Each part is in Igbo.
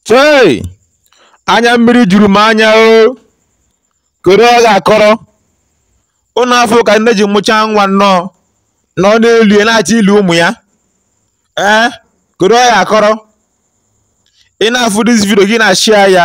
chei anya mmiri juru m anya o kedu ọ ga-akọrọ ụnụ afụ ka nne ji mụchaa nwa nnọọ na ọ na-eli ya na-achọ ili ụmụ ya ee kedu ọ ga-akọrọ ị na-afụ dis vidio gị na-ashịa ya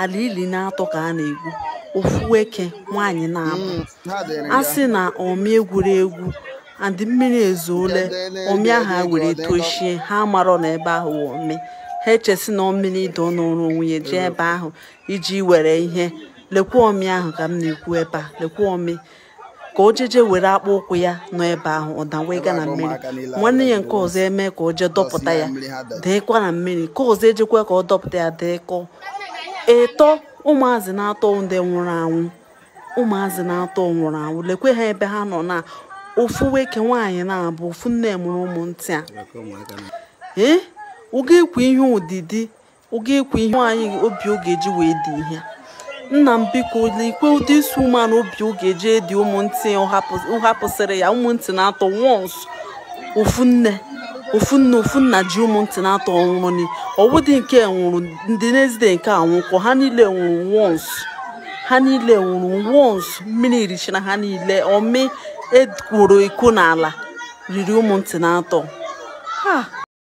ala ili naatọ ka a na-egwu ofu nwoke nwaanyị naabọ mm, a sị na ọmị e gwuru egwu and mmiri ezuole ọmị ahụ ha were tochie ha amarọ na ebe ahụ ọmị ha eche sị na mmiri ide nọrọ o wee jee ebe ahụ iji were ihe lekwa ọmị ahụ ka m na-ekwu ebe a lekwa ọmị ka o jeje were akpụ ụkwụ ya nọ ebe ahụ ọ dawega na mmiri nwanne ya nke ọzọ eme ka o jee dọpụta ya dakwa na mmiri nke ọzọ ejekwa ka ọ dọpụta ya dakwa ịtọ ụmụazị naatọ ndị nwụrụ anwụ ụmụazị naatọ nwụrụ anwụ lekwa ha ebe ha nọ na ofu nwoke nwaanyị naabọ ofu nne mụrụ ụmụ ntị a ee ọ ga-ekwe ya odidi ọ ga-ekwe ihe nwaanyị obi ọ ga-eji wee die ihe nna m biko ikwe ụdị isi ụmụanụ obi ọ ga-eji edi ụmụntị hapụsịrị ya ụmụntị naatọ wons ofu nne ofu nne ofu nna ji ụmụntị naatọ nwụrụ ọ wụdị nke nwụrụ ndị n'ezide nke anwụkwa ha niile nwụrụ wons ha niile nwụrụ wons mmiri richara ha niile ọmị e gwuru egwu n'ala riri ụmụntị naatọ ha